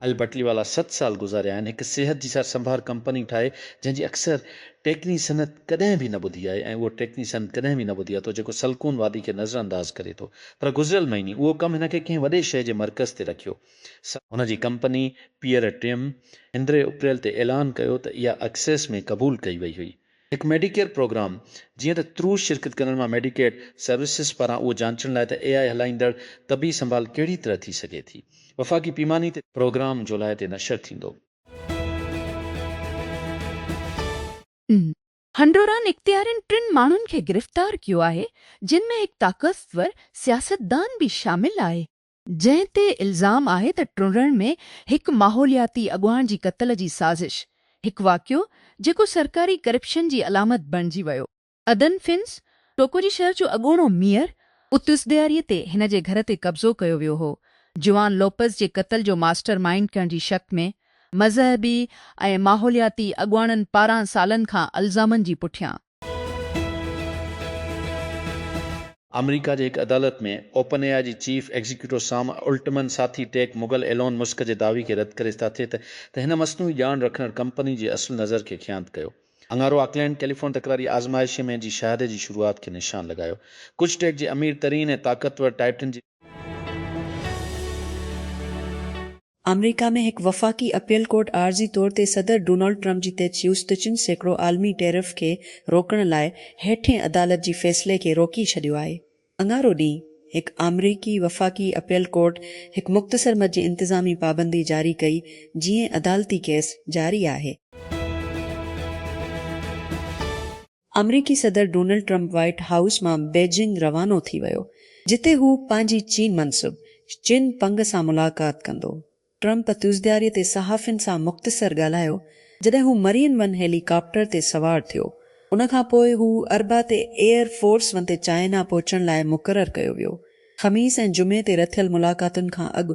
اهل بٽلي والا ست سال گذاريا آهن هڪ صحت جي سار سنڀار ڪمپني ٺاهي جنهن جي اڪثر ٽيڪني صنعت ڪڏهن به نه ٻڌي آهي ۽ اهو ٽيڪني صنعت ڪڏهن به نه ٻڌي آهي ٿو جيڪو سلڪون وادي کي نظر انداز ڪري ٿو پر گذريل مهيني اهو ڪم هن کي ڪنهن وڏي شهر جي مرڪز تي رکيو سا هن جي ڪمپني پيئر ٽيم اندري اپريل تي اعلان ڪيو ته اها اڪسيس ۾ قبول ڪئي وئي هئي هڪ ميڊيڪيئر پروگرام، جيئن ته ترو شرڪت ڪندڙن مان ميڊيڪيڊ سروسز پاران اهو جانچڻ لاء ته اي آء هلائيندڙ طبي سنڀال ڪهڙي طرح ٿي سگهي ٿي وفاقي پيماني تي پروگرام جولاء تي نشر ٿيندو. هنڊوران اختيارين ٽن ماڻهن کي گرفتار ڪيو آهي جن ۾ هڪ طاقتور سياستدان به شامل آهي. جنهن تي الزام آهي ته ٽنڊڻ ۾ هڪ ماحولياتي اڳواڻ جي قتل جي سازش، هڪ واقعو جيڪو سرڪاري ڪرپشن جي علامت بڻجي ويو. ادن فنس، ٽوڪوجي شهر جو اڳوڻو ميئر، اتس ڏياري تي هن جي گهر تي قبضو ڪيو ويو هو، جوان لوپز جي قتل جو ماسٽر مائينڊ ڪرڻ جي شڪ ۾ مذهبي ۽ ماحولياتي اڳواڻن پاران سالن کان الزامن جي پٺيان. آمريڪا جي هڪ عدالت ۾ اوپن اي آء جي چيف ايگزيڪيوٽو سام الٽمن ساٿي ٽيڪ مغل ايلون مسڪ جي دعوي کي رد ڪري ساٿي ته ته هن مصنوعي ڄاڻ رکندڙ ڪمپني جي اصل نظر کي خيانت ڪيو اڱارو آڪلينڊ ڪيليفون تڪراري آزمائشي ۾ جي شهادي جي شروعات کي نشان لڳايو ڪجهه ٽيڪ جي امير ترين ۽ طاقتور ٽائٽن جي آمريڪا ۾ هڪ وفاقي اپيل ڪورٽ عارضي طور تي صدر ڊونلڊ ٽرمپ جي تي چيوس ته چن سيڪڙو عالمي ٽيرف کي روڪڻ لاء هيٺين عدالت جي فيصلي کي روڪي ڇڏيو آهي. اڱارو ڏينهن هڪ آمريڪي وفاقي اپيل ڪورٽ هڪ مختصر مد جي انتظامي پابندي جاري ڪئي جيئن عدالتي ڪيس جاري آهي. آمريڪي صدر ڊونلڊ ٽرمپ وائيٽ هائوس مان بيجنگ روانو ٿي ويو جتي هو پنهنجي چين منصب چن پنگ سان ملاقات ڪندو. ٽرمپ تيوزدياري تي صحافين سان مختصر ڳالهايو جڏهن هو مرين ون هيلي ڪاپٽر تي سوار ٿيو. ان کان پوء هو اربع تي ايئر فورس ون تي چائنا پهچڻ لاء مقرر ڪيو ويو. خميس ۽ جمعي تي رٿيل ملاقاتن کان اڳ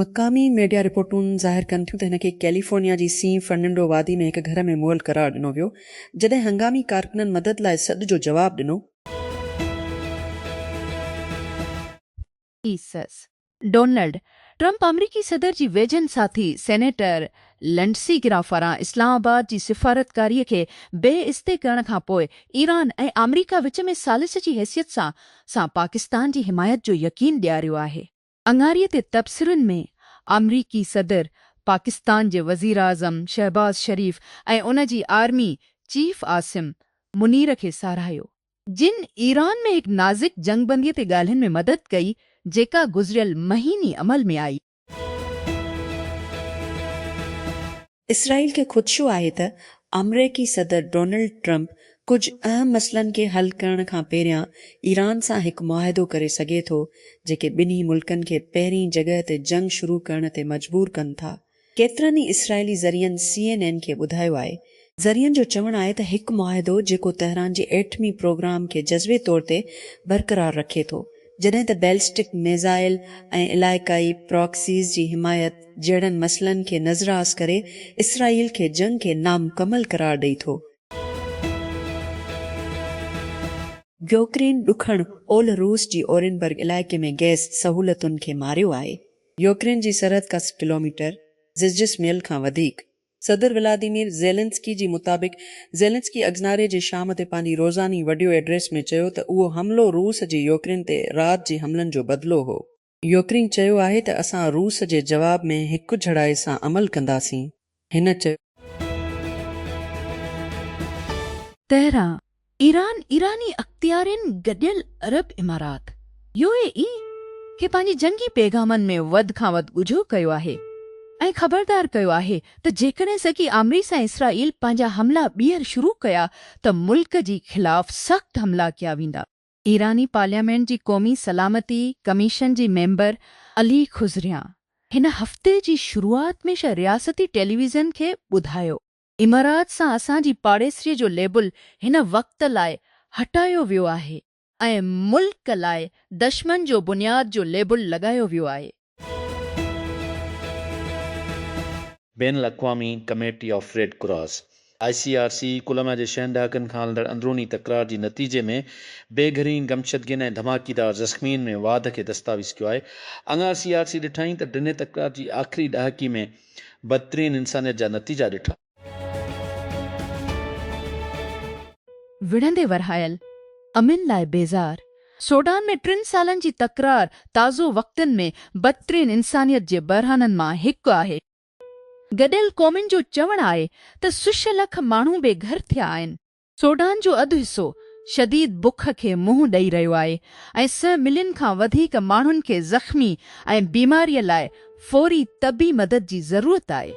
مقامي ميڊيا رپورٽون ظاهر ڪن ٿيون ته هن کي ڪيليفورنيا جي سين فرننڊو وادي ۾ هڪ گهر ۾ مئل قرار ڏنو ويو، جڏهن هنگامي ڪارڪنن مدد لاء سڏ جو جواب ڏنو. ايسز، ڊونلڊ ٽرمپ آمريڪي صدر جي ويجهن ساٿي سينيٽر لنڊسي گرام پاران اسلام آباد جي سفارتڪاري کي بي استي ڪرڻ کان پوء ايران ۽ آمريڪا وچ ۾ ثالث جي حيثيت سان سان پاڪستان جي حمايت جو يقين ڏياريو آهي. اڱاري تي تبصرن ۾ آمريڪي صدر، پاڪستان جي وزيراعظم شهباز شريف ۽ ان جي آرمي چيف عاصم منير کي ساراهيو، جن ايران ۾ هڪ نازڪ جنگ بندي تي ڳالهين ۾ مدد ڪئي، جيڪا گذريل مهيني عمل ۾ آئي. اسرائيل کي خدشو آهي ته آمريڪي صدر ڊونلڊ ٽرمپ ڪجهه اهم مسئلن کي حل ڪرڻ کان پهريان ايران سان هڪ معاهدو ڪري سگهي ٿو، جيڪي ٻنهي ملڪن کي پهرين جڳهه تي جنگ شروع ڪرڻ تي مجبور ڪن ٿا. ڪيترن ئي اسرائيلي ذريعن سي اين اين کي ٻڌايو آهي، ذريعن جو چوڻ آهي ته هڪ معاهدو جيڪو تهران جي ايٽمي پروگرام کي جزوي طور تي برقرار رکي ٿو جڏهن ته بيلسٽڪ ميزائل ۽ علائقائي پراڪسيز جي حمايت جهڙن مسئلن کي نظراس ڪري اسرائيل کي جنگ کي نامڪمل قرار ڏئي ٿو. يوڪرين ڏکڻ اولھ روس جي اورينبرگ علائقي ۾ گئس سهولتن کي ماريو آهي. يوڪرين جي سرحد ڪا سئو ڪلوميٽر، زجسميل کان وڌيڪ، صدر ولاديمير زيلنسڪي جي مطابق زيلنسڪي اگزناري جي شام تي پنهنجي روزاني وڊيو ايڊريس ۾ چيو ته اهو حملو روس جي يوڪرين تي رات جي حملن جو بدلو هو. يوڪرين چيو آهي ته اسان روس جي جواب ۾ هڪجھڙائي سان عمل ڪنداسين، هن چيو. تهران، ايران، ايراني اختيارين گڏيل عرب امارات، يو اي اي، کي پنهنجي جنگي پيغامن ۾ وڌ کان وڌ ڳجهو ڪيو آهي ۽ خبردار ڪيو آهي ته جيڪڏهن سگي آمريس ۽ اسرائيل پنهنجا حملا ٻيهر شروع ڪيا ته ملڪ جي خلاف سخت حملا ڪيا ويندا. ايراني پارليامينٽ جي قومي سلامتي ڪميشن جي ميمبر علي خضريان هن هفتي جي شروعات ۾ رياستي ٽيليويزن کي ٻڌايو امارات سان اسان جي پاڙيسري جو ليبل هن وقت لاء هٽايو ويو آهي ۽ ملڪ لاء دشمن جو بنياد جو ليبل لڳايو ويو آهي. بين الاقوامي committee of Red Cross, I C R C, Colombia جي ڇهن ڏهاڪن کان هلندڙ اندروني تڪرار جي نتيجي ۾ بي گهرين گمشدگين ۽ ڌماڪيدار زخمين ۾ واڌ کي دستاويز ڪيو آهي. اڱار سي آر سي ڏٺائين ته ڊنهي تڪرار جي آخري ڏهاڪي ۾ بدترين انسانيت جا نتيجا ڏٺا. وڙهندي ورهايل، امن لاء بيزار، سوڊان ۾ ٽن سالن جي تڪرار تازو وقتن ۾ بدترين انسانيت جي بحرانن مان هڪ آهي. گڏيل قومن جو چوڻ آهي ته سش لک ماڻهو بي گهر ٿيا آهن. سوڊان جو اڌ حصو شديد بک کي منهن ڏئي رهيو آهي ۽ سئه ملين کان وڌيڪ ماڻهن کي زخمي ۽ بيماريء لاء فوري طبي مدد جي ضرورت آهي.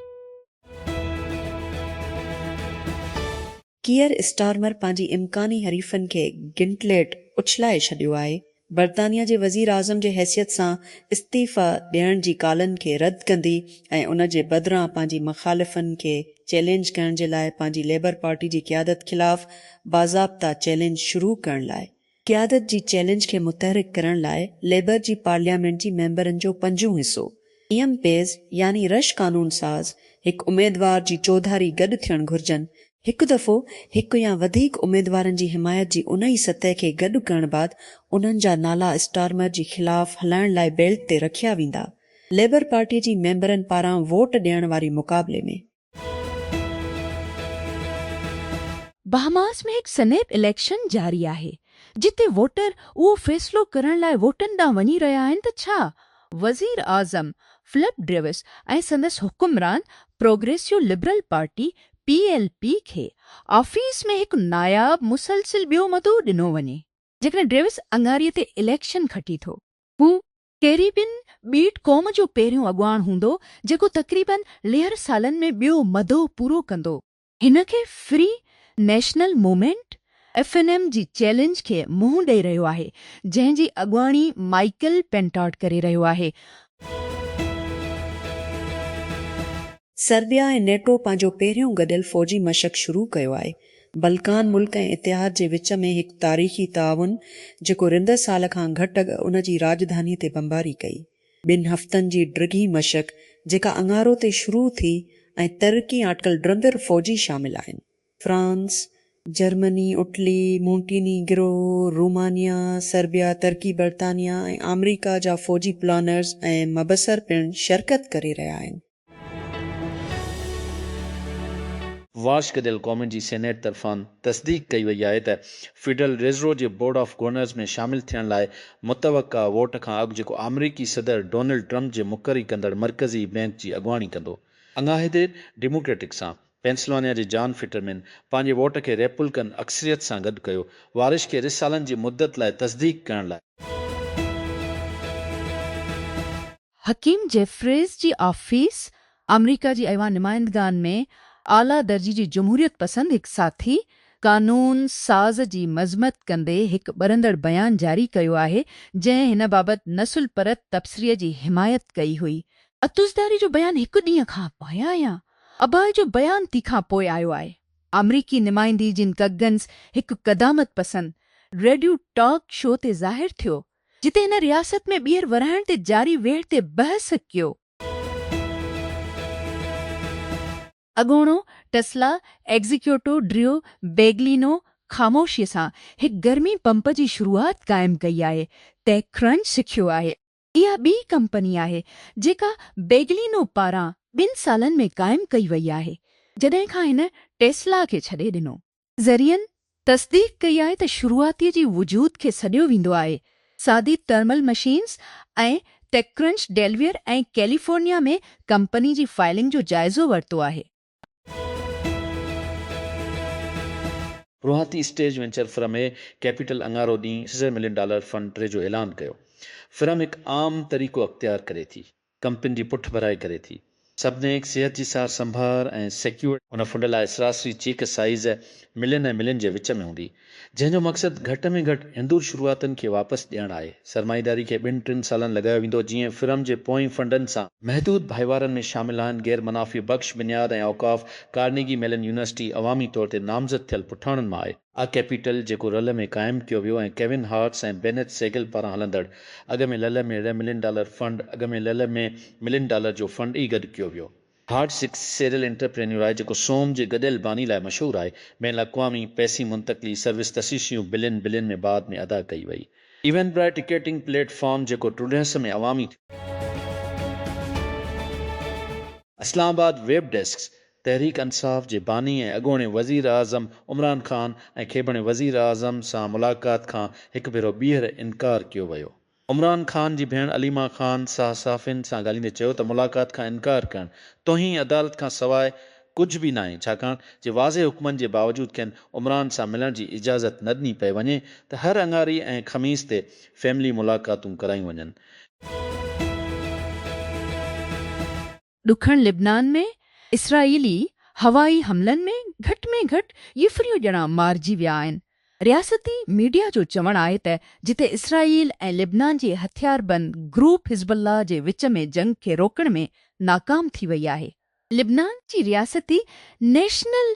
ڪيئر اسٽارمر پنهنجي امڪاني حريفن کي گنٽليٽ اڇلائي ڇڏيو آهي برطانيا جي وزيراعظم جي حيثيت سان استعيفيٰ ڏيڻ جي ڪالن کي رد ڪندي ۽ ان جي بدران پنهنجي مخالفن کي چئلينج ڪرڻ جي لاء پنهنجي ليبر پارٽي جي قيادت خلاف باضابطه چئلينج شروع ڪرڻ لاء قيادت جي چئلينج کي متحرڪ ڪرڻ لاء ليبر جي پارليامينٽ جي ميمبرن جو پنجون حصو ايم پيز يعني رش قانون ساز هڪ اميدوار جي چوڌاري گڏ ٿيڻ گهرجن هڪ دفعو هڪ يا وڌيڪ اميدوارن جي حمايت جي انهي سطح کي گڏ ڪرڻ بعد انهن جا نالا اسٽارمر جي خلاف هلائڻ لاء بيلٽ تي رکيا ويندا. ليبر پارٽي جي ميمبرن پاران ووٽ ڏيڻ واري مقابلي ۾. بهاماس ۾ هڪ سنيپ اليڪشن جاري آهي، جتي ووٽر اهو فيصلو ڪرڻ لاء ووٽن ڏانهن وڃي رهيا آهن ته ڇا وزيراعظم فلپ ڊريوس ۽ سندس حڪمران progressive liberal party, P L P کي آفيس ۾ هڪ ناياب مسلسل ٻيو مدو ڏنو وڃي. جيڪڏهن ڊيوس اڱاري تي اليڪشن کٽي ٿو. هو ڪيريبين ٻيٽ قوم جو پهريون اڳواڻ هوندو جيڪو تقريباً ليهر سالن ۾ ٻيو مدو پورو ڪندو. هن کي free national movement F N M جي چئلينج کي منهن ڏئي رهيو آهي جنهن جي اڳواڻي مائيڪل پينٽاٽ ڪري رهيو آهي. سربيا ۽ نيٽو پنهنجو پهريون گڏيل فوجي مشق شروع ڪيو آهي. بلڪان ملڪ ۽ اتحاد جي وچ ۾ هڪ تاريخي تعاون جيڪو رندر سال کان گهٽ اڳ ان جي راڄڌاني تي بمباري ڪئي. ٻن هفتن جي ڊگهي مشق جيڪا اڱارو تي شروع ٿي ۽ ترقي آٽڪل ڊرندر فوجي شامل آهن. France, Germany, Italy, Montenegro, Romania, Serbia, ترڪي، برطانيا ۽ آمريڪا جا فوجي پلانرز ۽ مبصر پڻ شرڪت ڪري رهيا آهن. واسڪ ديل ڪومن جي سينيٽ طرفان تصديق ڪئي وئي آهي ته فيڊرل ريزرو جي بورڊ آف گورنرز ۾ شامل ٿيڻ لاء متوقع ووٽ کان اڳ جيڪو آمريڪي صدر ڊونلڊ ٽرمپ جي مقري ڪندڙ مرڪزي بئنڪ جي اڳواڻي ڪندو. اڱاهي دير ڊيموڪريٽڪ سان پينسلوانيا جي جان فٽرمين پنهنجي ووٽ کي ريپولڪن اڪثريت سان گڏ ڪيو، وارش کي رھ سالن جي مدت لاء تصديق ڪرڻ لاء. حڪيم جيفريز جي آفيس آمريڪا جي ايوان نمائندگان ۾ اعليٰ درجي جي جمهوريت پسند هڪ ساٿي قانون ساز جي مذمت ڪندي هڪ ٻرندڙ بيان جاري ڪيو آهي جنهن هن بابت نسل پرت تبصري جي حمايت ڪئي هئي. عطوزرداري جو بيان هڪ ڏينهن کان پايان يا اباهه جو بيان تي کان پوء آيو آهي. آمريڪي نمائندي جن ڪگنز هڪ قدامت پسند ريڊيو ٽاڪ شو تي ظاهر ٿيو، جتي هن رياست ۾ ٻيهر ورهائڻ تي جاري ويڙهه تي بحث ڪيو. اڳوڻو ٽسلا ايگزيڪيوٽو ڊريو بيگلينو خاموشيء سان هڪ گرمي پمپ جي شروعات قائم ڪئي آهي، ٽيڪ ڪرنچ سکيو آهي. اها ٻي ڪمپني آهي جيڪا بيگلينو پاران ٻن سالن ۾ قائم ڪئي وئي آهي جڏهن کان هن ٽيسلا کي ڇڏي ڏنو. ذريعن تصديق ڪئي آهي ته شروعاتي جي وجود کي سڏيو ويندو آهي، سادي thermal machines ۽ TechCrunch Delaware ۽ California ۾ company جي فائلنگ جو جائزو ورتو آهي. روهاتي stage venture firm A capital اڱارو ڏينهن سيزر ملين ڊالر فنڊ ٽري جو اعلان ڪيو. فرم هڪ عام طريقو اختيار ڪري ٿي. ڪمپني جي پٺڀرائي ڪري ٿي. سبنيڪ صحت جي سار سنڀار ۽ سيڪيورڊ. هن فنڊ لاء سراسري چيڪ سائيز ملين ۽ ملين جي وچ ۾ هوندي. جنهن جو مقصد گهٽ ۾ گهٽ هندور شروعاتن کي واپس ڏيڻ آهي. سرمائيداري کي ٻن ٽن سالن لڳايو ويندو جيئن فرم جي پوئين فنڊن سان. محدود ڀائيوارن ۾ شامل آهن غير منافعي بخش بنياد ۽ اوقاف، ڪارنيگي ميلن يونيورسٽي عوامي طور تي نامزد ٿيل پٺاڻن مان آهي. آء ڪيپيٽل جيڪو رل ۾ قائم ڪيو ويو ۽ ڪيون هارٽس ۽ بينيٿ سيگل پاران هلندڙ اڳ ۾ لل ۾ ري ملين ڊالر فنڊ اڳ ۾ لل ۾ ملين ڊالر جو فنڊ ئي گڏ ڪيو ويو. هارڊ سڪس سيريل انٽرپرينيور آهي جيڪو سوم جي گڏيل باني لاء مشهور آهي. بين الاقوامي پئسي منتقلي سروس تشيشيون بلين بلين ۾ بعد ۾ ادا ڪئي وئي. Eventbrite ticketing platform جيڪو ٽرڊهس ۾ عوامي ٿيو. اسلام آباد، ويب ڊيسڪ، تحريڪ انصاف جي باني ۽ اڳوڻي وزيراعظم عمران خان ۽ کيبڻي وزيراعظم سان ملاقات کان هڪ ڀيرو ٻيهر انڪار ڪيو ويو عمران خان جي ڀيڻ عليما خان ساهه صحافين سان ڳالهيندي چيو ته ملاقات کان انڪار ڪرڻ توهين عدالت کان سواء ڪجهه به ناهي ڇاڪاڻ جي واضح حڪمن جي باوجود کين عمران سان ملڻ جي اجازت نه ڏني پئي وڃي ته هر اڱاري ۽ خميس تي فيملي ملاقاتون ڪرايون وڃن. ڏکڻ لبنان ۾ اسرائيلي هوائي حملن ۾ گهٽ ۾ گهٽ يفريون ڄڻا مارجي ويا آهن. رياستي ميڊيا جو چوڻ آهي ته جتي اسرائيل ۽ لبنان جي هٿياربند گروپ حزب الله جي وچ ۾ جنگ کي روڪڻ ۾ ناڪام ٿي وئي آهي. لبنان جي رياستي نيشنل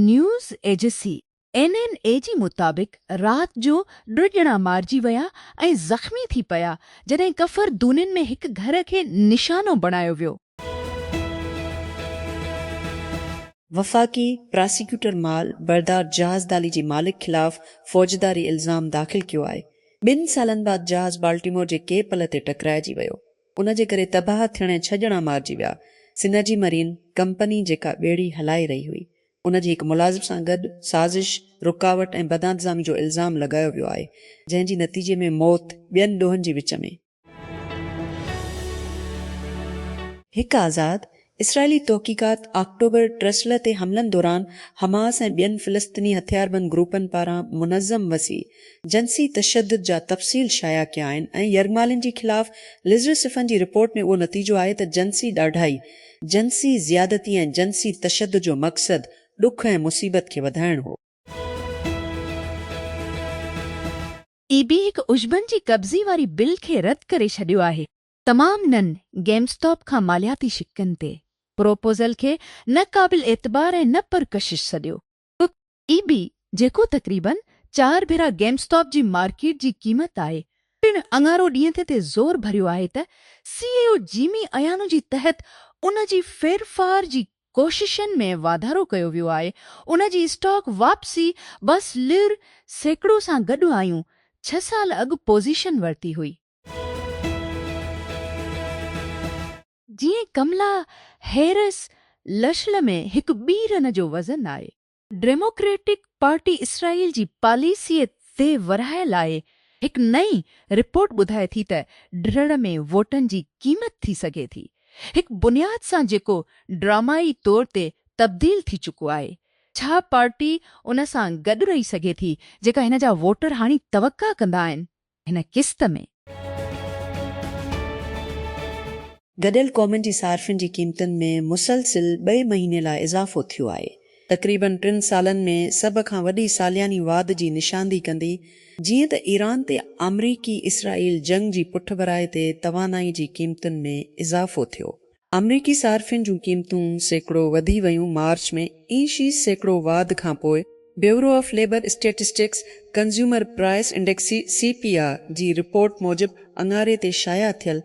نيوز ايجسي اين اين اي جي مطابق رات جو ٽه ڄڻا مارجي ويا ۽ زخمي ٿي پيا جڏهن ڪفر دونين ۾ هڪ گهر کي نشانو بڻايو ويو. وفاقي پراسيڪيوٽر مال بردار جهاز دالي جي مالڪ خلاف فوجداري الزام داخل ڪيو آهي، ٻن سالن بعد جهاز بالٽيمور جي ڪي پل تي ٽڪرائجي ويو، ان جي ڪري تباهه ٿيڻ ۽ ڇهه ڄڻا مارجي ويا، سنرجي مرين ڪمپني جيڪا ٻيڙي هلائي رهي هئي، ان جي هڪ ملازم سان گڏ سازش، رڪاوٽ ۽ بدانتظامي جو الزام لڳايو ويو آهي، جنهن جي نتيجي ۾ موت ٻين ڏوهن جي وچ ۾. هڪ آزاد اسرائيلي تحقيقات آڪٽوبر ٽرسلر تي حملن دوران حماس ۽ ٻين فلسطيني هٿياربند گروپن پاران منظم وسيع جنسي تشدد جا تفصيل شايع ڪيا آهن ۽ يرغمالين جي خلاف لزرسفن جي رپورٽ ۾ اهو نتيجو آهي ته جنسي ڏاڍائي جنسي زيادتي ۽ جنسي تشدد جو مقصد ڏک ۽ مصيبت کي وڌائڻ هو. اي بي هڪ عشبن جي قبضي واري بل کي رد ڪري ڇڏيو آهي. تمام نن گيم اسٽاپ کان مالياتي شقن تي پروپوزل کي نه قابل اعتبار ۽ نه پرڪشش سڏيو. پ اي بي جيڪو تقريباً چار ڀيرا گيم اسٽاپ جي مارڪيٽ جي قيمت آهي پڻ اڱارو ڏينهن تي تي زور ڀريو آهي ته سي اي او جيمي ايانو جي تحت ان جي ڦيرڦار جي ڪوششن ۾ واڌارو ڪيو ويو آهي ان جي اسٽاڪ واپسي بس لر سيڪڙو سان گڏ آيون ڇهه سال اڳ پوزيشن ورتي هئي. جيئن ڪملا هيرس لشل ۾ هڪ ٻي رن جو وزن آهي. ڊيموڪريٽڪ پارٽي اسرائيل جي پاليسيء تي ورهاء لاء هڪ نئين رپورٽ ٻڌائي ٿي ته ڊھڙ ۾ ووٽن جي قيمت ٿي سگهي ٿي هڪ بنياد سان جيڪو ڊرامائي طور تي تبديل ٿي چڪو آهي ڇا پارٽي ان سان گڏ رهي سگهي ٿي جيڪا هن جا ووٽر هاڻي توقع ڪندا آهن هن قسط ۾. گڏيل قومن جي صارفين جي قيمتن ۾ مسلسل ٻئي مهيني لاء اضافو ٿيو آهي. تقريبن ٽن سالن ۾ سڀ کان وڏي سالياني واڌ جي نشاندهي ڪندي جيئن ته ايران تي آمريڪي اسرائيل جنگ جي پٺڀرائي تي توانائي جي قيمتن ۾ اضافو ٿيو آمريڪي صارفين جون قيمتون سيڪڙو وڌي ويون مارچ ۾ اي شي سيڪڙو واڌ کانپوء bureau of Labor statistics consumer price index, C P I, جي رپورٽ موجب اڱاري تي شايع ٿيل،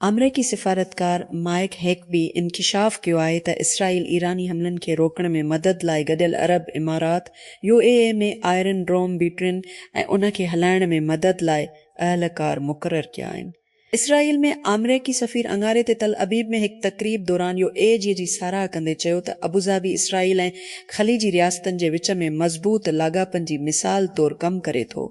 آمريڪي سفارتڪار مائيڪ هيڪبي انڪشاف ڪيو آهي ته اسرائيل ايراني حملن کي روڪڻ ۾ مدد لاء گڏيل عرب امارات، U A E, ۾ Iron Dome بيٽرين ۽ ان کي هلائڻ ۾ مدد لاء اهلڪار مقرر ڪيا آهن. اسرائيل ۾ آمريڪي سفير اڱاري تي تل ابيب ۾ هڪ تقريب دوران يو اي جي جي ساراهه ڪندي چيو ته ابوظهبي اسرائيل ۽ خليجي رياستن جي وچ ۾ مضبوط لاڳاپن جي مثال طور ڪم ڪري ٿو.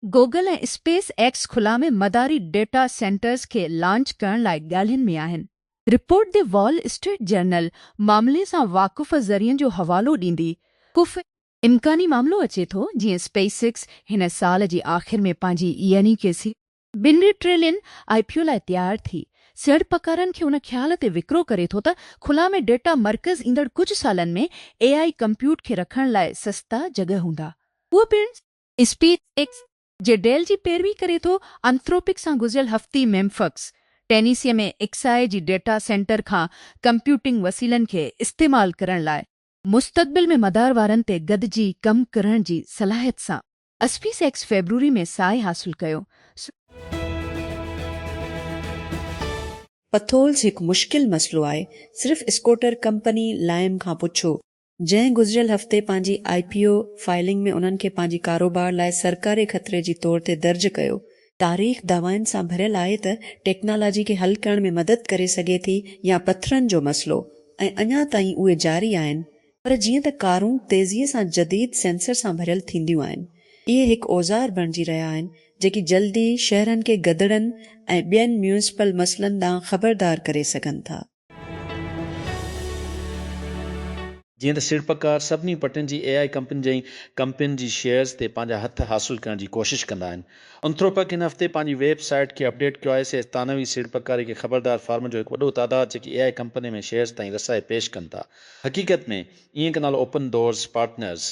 گوگل ۽ اسپيس ايڪس خلا ۾ مداري ڊيٽا سينٽرز کي لانچ ڪرڻ لاء ڳالهين ۾ آهن. Report the Wall Street Journal معاملي سان واقف ذريعن جو حوالو ڏيندي ڪف امڪاني معاملو اچي ٿو جيئن اسپيس ايڪس هن سال جي آخر ۾ پنهنجي يعني ڪي سي. ٻن ٽريلين آء پي او لاء تيار ٿي سيڙپڪارن کي ان خيال تي وڪرو ڪري ٿو ته خلا ۾ ڊيٽا مرڪز ايندڙ ڪجهه سالن ۾ اي آء ڪمپيوٽ کي رکڻ لاء سستا جڳهه هوندا اهو پڻ اسپيس ايڪس جي ڊيل جي پيروي ڪري ٿو انٿروپڪ سان گذريل هفتي ميمفڪس ٽينيسي ۾ ايڪس آء جي ڊيٽا سينٽر کان ڪمپيوٽنگ وسيلن کي استعمال ڪرڻ لاء مستقبل ۾ مدار وارن تي گڏجي ڪم ڪرڻ جي صلاحيت سان اسپيس ايڪس فيبروري ۾ ساهي حاصل ڪيو. پٿولز هڪ مشڪل مسئلو آهي، صرف اسڪوٽر ڪمپني لائم کان پڇو، جنهن گذريل هفتي پنهنجي آء پي او فائلنگ ۾ انهن کي پنهنجي ڪاروبار لاء سرڪاري خطري جي طور تي درج ڪيو، تاريخ دعوائن سان ڀريل آهي ته ٽيڪنالاجي کي حل ڪرڻ ۾ مدد ڪري سگهي ٿي يا پٿرن جو مسئلو ۽ اڃا تائين اهي جاري آهن پر جيئن ته ڪارون تيزيء سان جديد سينسر سان ڀريل ٿينديون آهن اهي هڪ اوزار بڻجي رهيا آهن جيڪي جلدي شهرن کي گدڙن ۽ ٻين ميونسپل مسئلن ڏانهن خبردار ڪري سگهن ٿا. جيئن ته سيڙپڪار سڀني پٽين جي اي آء ڪمپنين جي ڪمپنين جي شيئرز تي پنهنجا هٿ حاصل ڪرڻ جي ڪوشش ڪندا آهن. انٿروپڪ هن هفتي پنهنجي ويب سائيٽ کي اپڊيٽ ڪيو آهي. سيئرز ثانوي سيڙپڪاري کي خبردار فارمن جو هڪ وڏو تعداد جيڪي اي آء ڪمپنين ۾ شيئرز تائين رسائي پيش ڪن ٿا. حقيقت ۾ اينڪ نالو اوپن ڊورز پارٽنرز